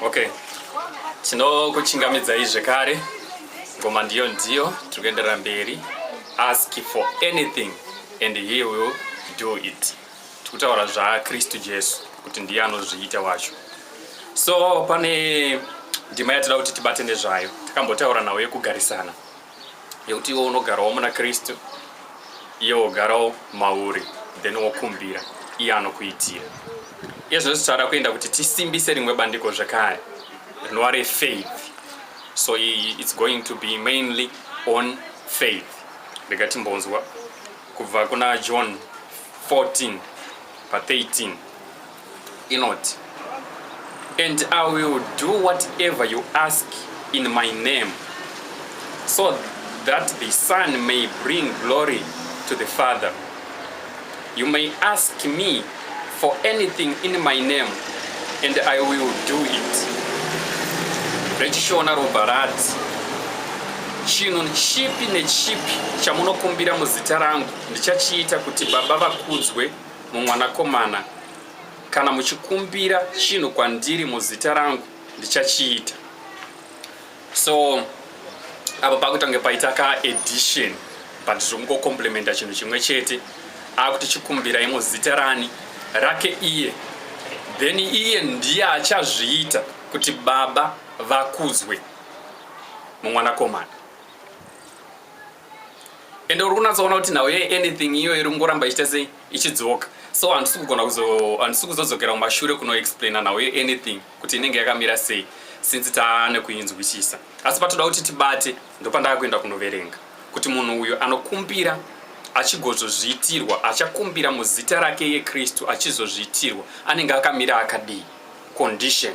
Okay. Tinokuchingamidzai zvekare. Ngoma ndiyo ndiyo tiri kuenderera mberi. Ask for anything and he will do it. Tikutaura zvaKristu Jesu kuti ndiye anozviita wacho. So pane ndima yatida kuti tibate nezvayo. Takambotaura nawo yekugarisana. yekuti iwe unogarawo muna kristu iye wogarawo mauri then wokumbira iye anokuitira izvo zvichada kuenda kuti tisimbise rimwe bandiko zvekare rinova refaith so its going to be mainly on faith rega timbonzwa kubva kuna john 14 pa 13 inoti and i will do whatever you ask in my name so that the son may bring glory to the father you may ask me for anything in my name and i will do it rechishona robva rati chinhu chipi nechipi chamunokumbira muzita rangu ndichachiita kuti baba vakudzwe mumwanakomana, kana muchikumbira chinhu kwandiri muzita rangu ndichachiita. So apa pakutange paita ka edition but zvokungocomplementa chinhu chimwe chete akuti chikumbirai muzita rani rake iye then iye ndiye achazviita kuti baba vakudzwe mumwanakomana ende uri kunatsoona kuti nhau ye anything iyo iri kungoramba ichita sei ichidzoka so handisi kugona handisi kuzodzokera kumashure kunoexplaina nhau ye anything kuti inenge yakamira sei since taane kuinzwisisa asi patoda kuti tibate ndopandava kuenda kunoverenga kuti munhu uyo anokumbira achigozozviitirwa achakumbira muzita rake yekristu achizozviitirwa anenge akamira akadii condition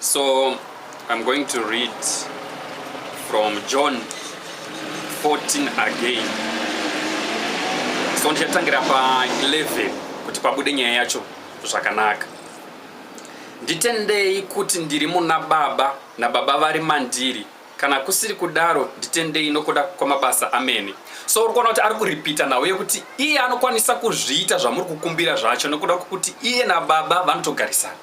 So I'm going to read from John 14 again. So ndichatangira pa 11 kuti pabude nyaya yacho zvakanaka. Nditendei kuti ndiri muna Baba naBaba vari mandiri Kana kusiri kudaro nditendei nokuda kwamabasa amene. So uri kuona kuti ari kuripita nhau yekuti iye anokwanisa kuzviita zvamuri kukumbira zvacho nokuda kwekuti iye nababa vanotogarisana.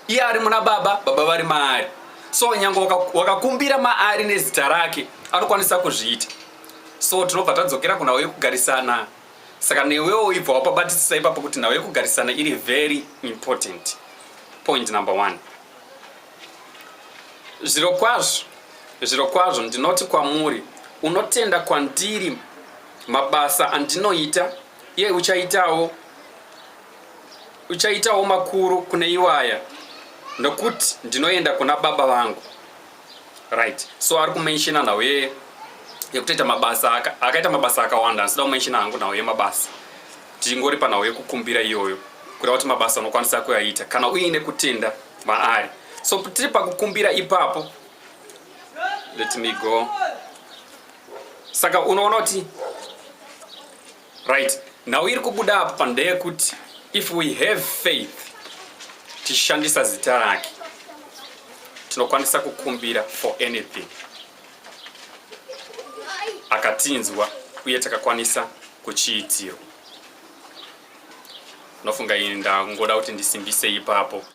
Iye ari muna baba, baba vari maari. So nyange wakakumbira maari nezita rake anokwanisa kuzviita. So tinobva tadzokera kunhau yekugarisana. Saka newewo ibva wapabatisisa ipapo kuti nhau yekugarisana iri very important. Point number one. Zvirokwazvo, zvirokwazvo ndinoti kwamuri, unotenda kwandiri mabasa andinoita, iye uchaitawo uchaitawo makuru kune iwaya nokuti ndinoenda kuna baba vangu right so ari kumenshina nhau yeye yekutoita mabasa akaita mabasa akawanda asida kumenshina hangu nhau yemabasa tingori panhau yekukumbira iyoyo kuda kuti mabasa unokwanisa kuyaita kana uine kutenda maari so tiri pakukumbira ipapo let me go saka unoona kuti right nhau iri kubuda apo pandeyekuti if we have faith tichishandisa zita rake tinokwanisa kukumbira for anything akatinzwa uye takakwanisa kuchiitirwa unofunga ini ndangoda kuti ndisimbise ipapo